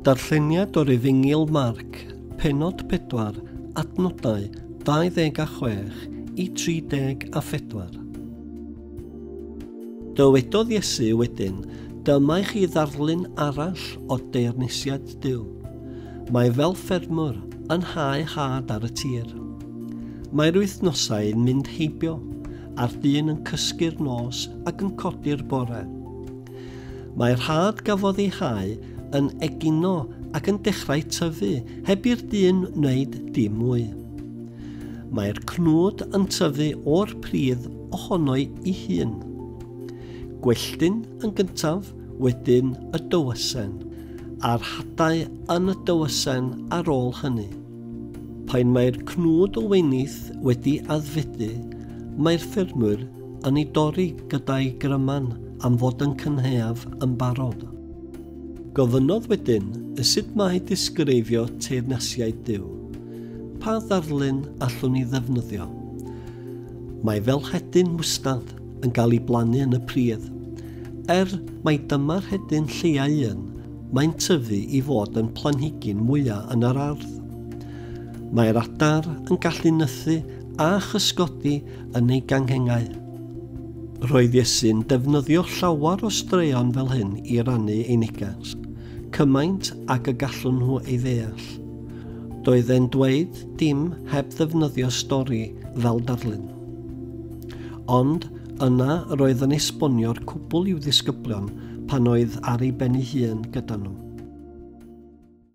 Darlleniad o Rifyngil Marc, pennod 4, adnodau 26 i 34. Dywedodd Iesu wedyn, Dyma i chi ddarlun arall o deyrnisiad Duw. Mae fel ffermwr yn hau had ar y tir. Mae'r wythnosau yn mynd heibio, a'r dyn yn cysgu'r nos ac yn codi'r bore. Mae rhad gafodd ei hau yn egino ac yn dechrau tyfu heb i'r dyn wneud dim mwy. Mae'r cnwd yn tyfu o'r pridd ohono'i i hun. Gwelltyn yn gyntaf, wedyn y dywysen, a'r hadau yn y dywysen ar ôl hynny. Pan mae'r cnwd o wenith wedi addfedu, mae'r ffermwyr Yn ei dorri gyda'i gryman am fod yn cynhaeaf yn barod. Gofynnodd wedyn y sut mae disgreifio teyrnasiaid Duw. Pa ddarlun allwn ni ddefnyddio? Mae fel hedyn mwstad yn cael ei blannu yn y pridd. Er mai dyma'r hedyn lleau un, mae'n tyfu i fod yn planhigyn mwyaf yn yr ardd. Mae'r adar yn gallu nythu a chysgodi yn ei ganghennau. Roedd Iesu'n defnyddio llawer o straeon fel hyn i rannu ei neges, cymaint ag y gallwn nhw ei ddeall. Doedd e'n dweud dim heb ddefnyddio stori fel darlun. Ond yna roedd yn esbonio'r cwbl i'w ddisgyblion pan oedd ar ei ben ei hun gyda nhw.